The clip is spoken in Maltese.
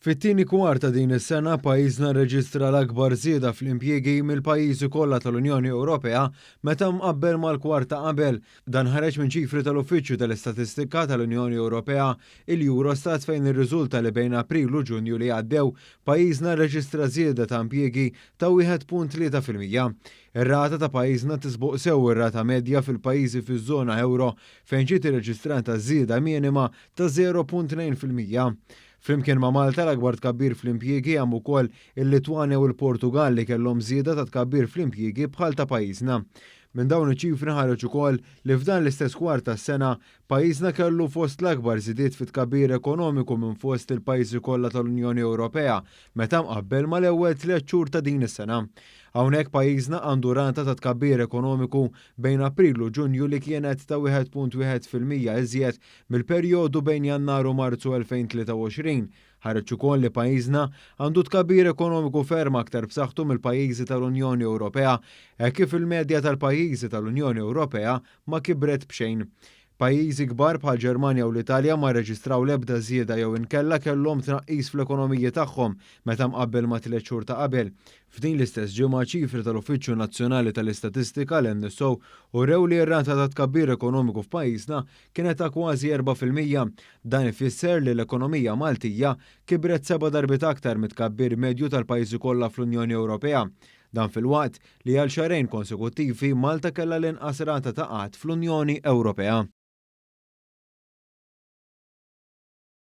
Fit-tieni kwart ta' din is-sena, pajjiżna rreġistra l-akbar żieda fl-impjiegi mill-pajjiżi kollha tal-Unjoni Ewropea meta mqabbel mal-kwart ta' qabel. Dan ħareġ minn ċifri tal-Uffiċċju tal-Istatistika tal-Unjoni Ewropea, il-Eurostat fejn irriżulta li bejn April u Ġunju li għaddew, pajjiżna rreġistra żieda ta' impjiegi ta' 1.3 fil-mija. Ir-rata ta' pajjiżna tisboq sew ir-rata medja fil-pajjiżi fiż-żona euro fejn ġiet irreġistrata żieda minima ta' 0.2 fil-mija. Flimkien ma' Malta l-akbar tkabbir fl-impjiegi hemm ukoll il-Litwanja u l-Portugall li kellhom żieda ta' tkabbir fl-impjiegi bħal ta' pajjiżna. Minn dawn iċ-ċifri nħareġ ukoll li f'dan l-istess kwart tas-sena Pajjiżna kellu fost l-akbar żidiet fit-tkabbir ekonomiku minn fost il-pajjiżi kollha tal-Unjoni Ewropea meta mqabbel mal-ewwel tliet xhur ta' din is-sena. Hawnhekk pajjiżna għandu rata ta' tkabbir ekonomiku bejn April u Ġunju li kienet ta' 1.1 fil-mija iżjed mill-perjodu bejn Jannar u Marzu 2023. Ħareġ ukoll li pajjiżna għandu tkabbir ekonomiku ferm aktar b'saħħtu mill-pajjiżi tal-Unjoni Ewropea hekk kif il-medja tal-pajjiżi tal-Unjoni Ewropea ma kibret b'xejn. Pajjiżi kbar bħall-Ġermanja u l-Italja ma rreġistraw l-ebda żieda jew inkella kellhom tnaqqis fl-ekonomiji tagħhom meta mqabbel mat-tliet xhur ta' qabel. F'din l-istess ġimgħa ċifri tal-Uffiċċju Nazzjonali tal-Istatistika, l-NSO, urew li r-rata ta' tkabbir ekonomiku f'pajjiżna kienet ta' kważi erba' fil-mija. Dan ifisser li l-ekonomija Maltija kibret seba' darbiet aktar mit-tkabbir medju tal-pajjiżi kollha fl-Unjoni Ewropea. Dan filwaqt li għal xahrejn konsekuttivi Malta kellha l-inqas rata ta' qgħad fl-Unjoni Ewropea.